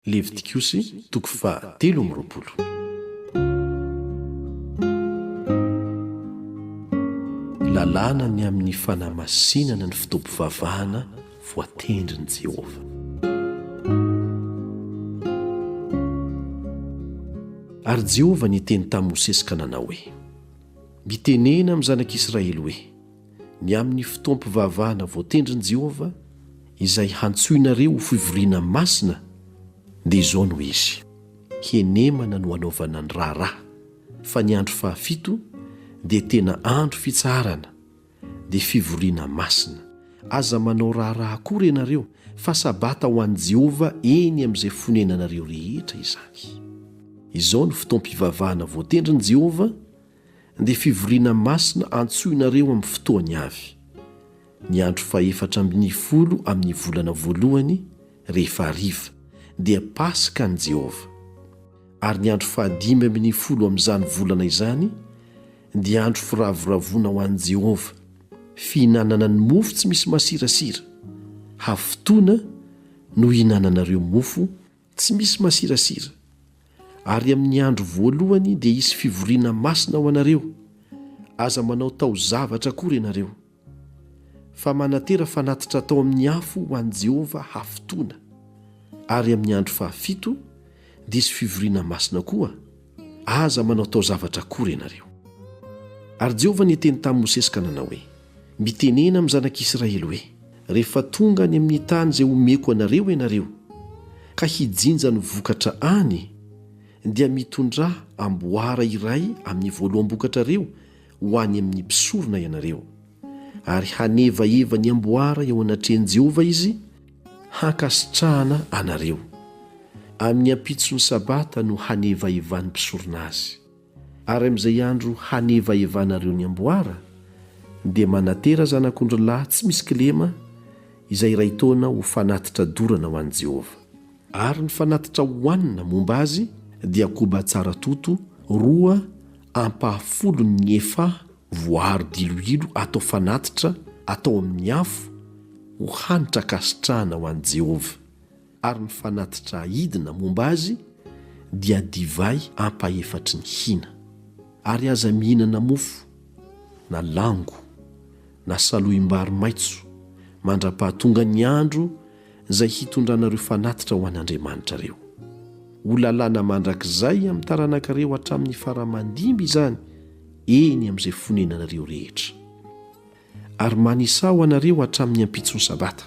Levitikosy toko faha telo amby roapolo. Lalàna ny amin'ny fanamasinana ny fotoam-pivavahana voatendrin'i Jehovah. Ary Jehovah niteny tamin'i Mosesy ka nanao hoe, Mitenena amin'ny zanak'Israely hoe, ny amin'ny fotoam-pivavahana voatendrin'i Jehovah izay hantsoinareo ho fivoriana masina, dia izao no izy, Henemana no hanaovana ny raharaha, fa ny andro fahafito dia tena andro fitsaharana, dia fivoriana masina. Aza manao raharaha akory ianareo, fa Sabata ho an'i Jehovah eny amin'izay fonenanareo rehetra izany. Izao no fotoam-pivavahana voatendrin'i Jehovah, dia fivoriana masina antsoinareo amin'ny fotoany avy, ny andro fahefatra ambin'ny folo amin'ny volana voalohany, rehefa hariva, dia Paska an'i Jehovah, ary ny andro fahadimy ambin'ny folo amin'izany volana izany dia andro firavoravoana ho an'i Jehovah, fihinanana ny mofo tsy misy masirasira, hafotoana no ihinananareo mofo Tsy misy masirasira. Ary amin'ny andro voalohany dia hisy fivoriana masina ho anareo, aza manao taozavatra akory ianareo. Fa manatera fanatitra atao amin'ny afo ho an'i Jehovah hafotoana. Ary amin'ny andro fahafito, dia hisy fivoriana masina koa, Aza manaotao zavatra akory ianareo. Ary Jehovah niteny tamin'i Mosesy ka nanao hoe, Mitenena amin'ny zanak'Israely hoe, Rehefa tonga any amin'ny tany izay homeko anareo ianareo, ka hijinja ny vokatra any, dia mitondrà amboara iray amin'ny voaloham-bokatrareo ho any amin'ny mpisorona ianareo. Ary hanevaheva ny amboara eo anatrehan'i Jehovah izy, Hankasitrahana anareo. Amin'ny ampitson'ny Sabata no hanevaevan'ny mpisorona azy. Ary amin'izay andro hanevaevanareo ny amboara, dia manatera zanak'ondrilahy tsy misy kilema izay iray taona ho fanatitra dorana ho an'i Jehovah. Ary ny fanatitra hohanina momba azy dia koba tsara toto roa ampahafolo ny efa Voaaro diloilo atao fanatitra atao amin' ny afo ho hanitra ankasitrahana ho an'i Jehovah, ary ny fanatitra aidina momba azy dia divay ampahefatry ny hina. Ary aza mihinana mofo, na lango, na salohim-bary maitso, mandra-pahatongan'ny andro izay hitondranareo fanatitra ho an'Andriamanitra ireo. Ho lalàna mandrakizay amin'ny taranakareo hatramin'ny fara-mandimby izany eny amin'izay fonenanareo rehetra. Ary manisaho anareo hatramin'ny ampitson'ny sabata,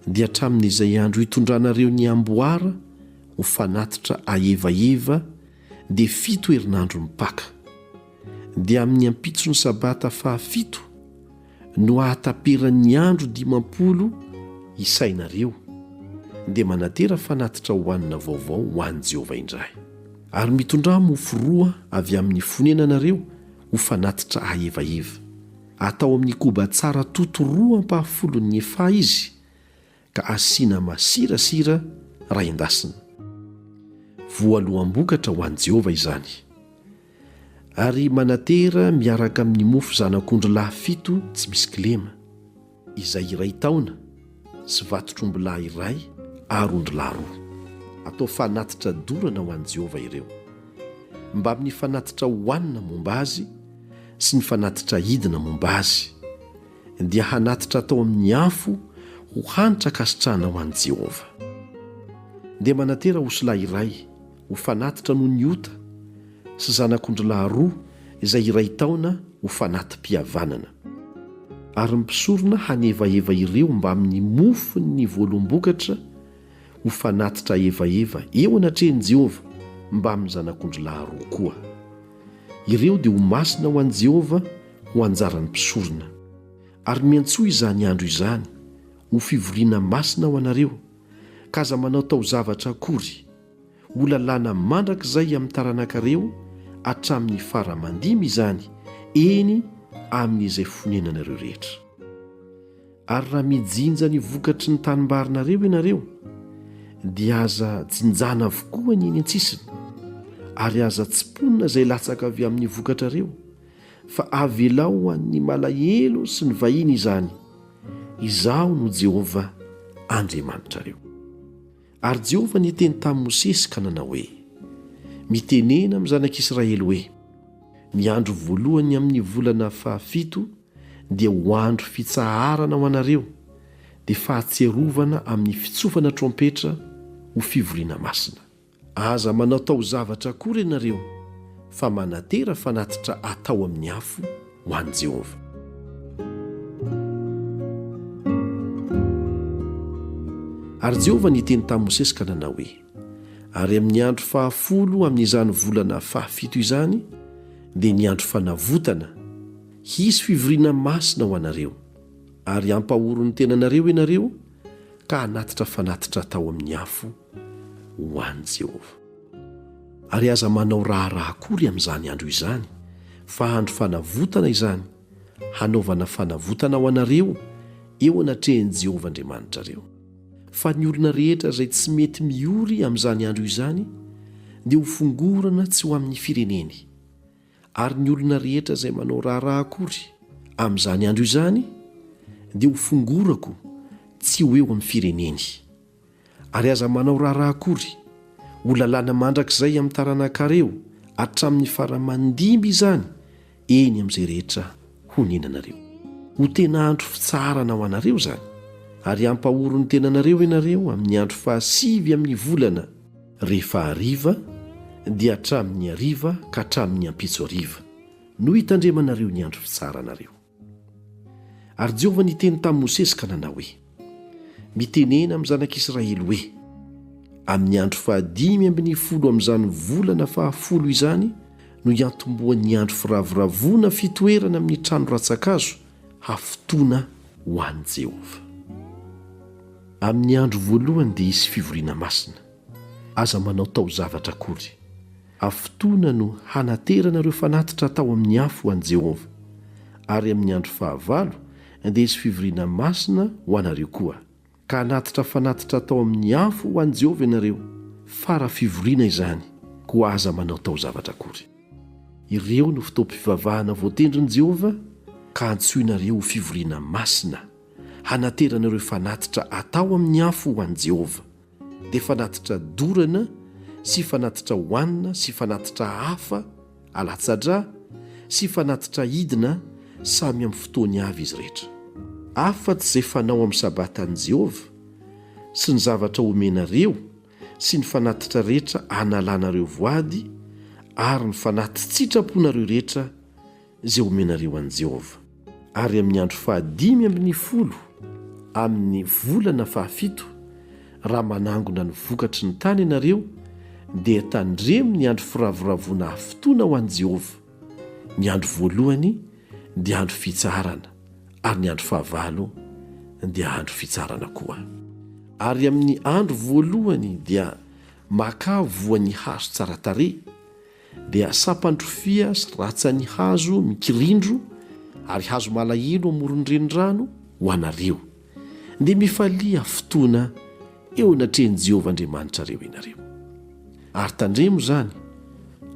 dia hatramin'izay andro hitondranareo ny amboara ho fanatitra aevaiva dia fito herinandro mipaka, dia amin'ny ampitson'ny sabata fahafito, no hahataperan'ny andro dimampolo isainareo, dia manatera fanatitra hohanina vaovao ho an'i Jehovah indray. Ary mitondrà mofo roa avy amin'ny fonenanareo ho fanatitra aevaiva. Atao amin'ny koba tsara toto roa ampahafolon'ny efa izy, ka asiana masirasira raha endasina. Voaloham-bokatra ho an'i Jehovah izany. Ary manatera miaraka amin'ny mofo zanak'ondrilahy fito tsy misy kilema, izay iray taona, sy vatotr'ombilahy iray ary ondrilahy roa. Atao fanatitra dorana ho an'i Jehovah ireo, mbamin'ny fanatitra hohanina momba azy sy ny fanatitra hidina momba azy. dia hanatitra atao amin'ny afo ho hanitra ankasitrahana ho an'i Jehovah. Dia manantena osilahy iray ho fanatitra noho ny ota sy zanak'ondrilahy roa izay iray taona ho fanati-pihavanana. Ary mpisorona hanevaheva ireo mbamin'ny mofon'ny voalombokatra ho fanatitra hevaheva eo anatrehan'i Jehovah mbamin'ny zanak'ondrilahy roa koa. Ireo dia ho masina ho an'i Jehovah ho anjaran'ny mpisorona. Ary miantsoa izany andro izany ho fivoriana masina ho anareo, ka aza manao taozavatra akory. Ho lalàna mandrakizay amin'ny taranakareo hatramin'ny fara aman-dimy izany, eny, amin'izay fonenanareo rehetra. Ary raha mijinja ny vokatry ny tanimbarinareo ianareo, dia aza jinjana avokoa ny eny an-tsisiny, ary aza tsimponina izay latsaka avy amin'ny vokatrareo, fa avelao ho an'ny malahelo sy ny vahiny izany. Izaho no Jehovah Andriamanitrareo. Ary Jehovah niteny tamin'i Mosesy ka nanao hoe, Mitenena amin'ny zanak'Israely hoe, Ny andro voalohany amin'ny volana fahafito, dia ho andro fitsaharana ho anareo, dia fahatsiarovana amin'ny fitsofana trompetra ho fivoriana masina. Aza manao taozavatra akory ianareo, fa manatera fanatitra atao amin'ny afo ho an'i Jehovah. Ary Jehovah niteny tamin'i Mosesy ka nanao hoe, Ary amin'ny andro fahafolo amin'izany volana fahafito izany, dia ny andro fanavotana, Hisy fivoriana masina ho anareo, ary hampahory ny tenanareo ianareo ka hanatitra fanatitra atao amin'ny afo ho an'i Jehovah. Ary aza manao raharaha akory amin'izany andro izany, fa andro fanavotana izany, hanaovana fanavotana ho anareo eo anatrehan'i Jehovah Andriamanitrareo. Fa ny olona rehetra izay tsy mety miory amin'izany andro izany dia hofongorana tsy ho amin'ny fireneny. ary ny olona rehetra izay manao raharaha akory amin'izany andro izany dia ho fongorako tsy ho eo amin'ny fireneny. Ary aza manao raharaha akory, ho lalàna mandrakizay amin'ny taranakareo hatramin'ny fara aman-dimby izany eny amin'izay rehetra honenanareo. Ho tena andro fitsaharana ho anareo izany, ary hampahory ny tenanareo ianareo amin'ny andro fahasivy amin'ny volana Rehefa hariva, dia hatramin'ny hariva ka hatramin'ny ampitso hariva, no hitandremanareo ny andro fitsaharanareo. Ary Jehovah niteny tamin'i Mosesy ka nanao hoe, Mitenena amin'ny zanak'Israely hoe, Amin'ny andro fahadimy ambin'ny folo amin'izany volana fahafolo izany no hiantombohan'ny andro firavoravoana fitoerana amin'ny trano rantsan-kazo, hafotoana ho an'i Jehovah. Amin'ny andro voalohany dia hisy fivoriana masina. Aza manao taozavatra akory. Hafotoana no hanaterana ireo fanatitra hatao amin'ny afo ho an'i Jehovah. Ary amin'ny andro fahavalo dia hisy fivoriana masina ho anareo koa. Ka hanatitra fanatitra atao amin'ny afo ho an'i Jehovah ianareo, fara fivoriana izany, koa aza manao taozavatra akory. Ireo no fotoam-pivavahana voatendrin'i Jehovah, ka antsoinareo ho fivoriana masina, hanaterana ireo fanatitra atao amin'ny afo ho an'i Jehovah, dia fanatitra dorana sy fanatitra hohanina sy fanatitra hafa, Alatsa-drà sy fanatitra hidina samy amin'ny fotoany avy izy rehetra. Afa-tsy izay fanao amin'ny Sabatan'i Jehovah sy ny zavatra omenareo sy ny fanatitra rehetra analanareo voady ary ny fanati-tsitraponareo rehetra izay omenareo an'i Jehovah. ary amin'ny andro fahadimy ambin'ny folo amin'ny volana fahafito, raha manangona ny vokatry ny tany ianareo, dia tandremo ny andro firavoravoana afotoana ho an'i Jehovah. Ny andro voalohany dia andro fitsaharana, ary ny andro fahavalo dia andro fitsaharana koa. Ary amin'ny andro voalohany dia makà voan'ny hazo tsara tarehy, dia sampan-drofia sy ratsan'ny hazo mikirindro ary hazo malahelo amoron'ny renirano ho anareo. Dia mifalia fotoana eo anatrehan'i Jehovah Andriamanitrareo ianareo. Ary tandremo izany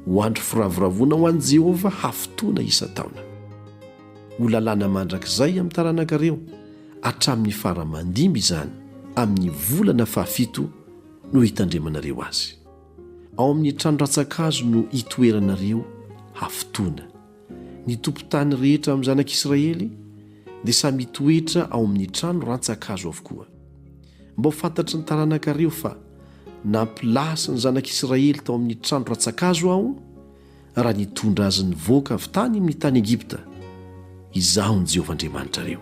ho andro firavoravoana ho an'i Jehovah hafotoana isan-taona. Ho lalàna mandrakizay amin'ny taranakareo hatramin'ny fara-mandimby izany amin'ny volana fahafito no hitandremanareo azy. Ao amin'ny trano rantsan-kazo no hitoeranareo hafotoana. Ny tompon-tany rehetra amin'ny Zanak'i Israely dia samy hitoetra ao amin'ny trano rantsan-kazo avokoa. Mba ho fantatry ny taranakareo fa nampilasy ny Zanak'i Israely tao amin'ny trano rantsan-kazo Aho, raha nitondra azy nivoaka avy tany amin'ny tany Egypta. Izaho ny Jehovah Andriamanitrareo.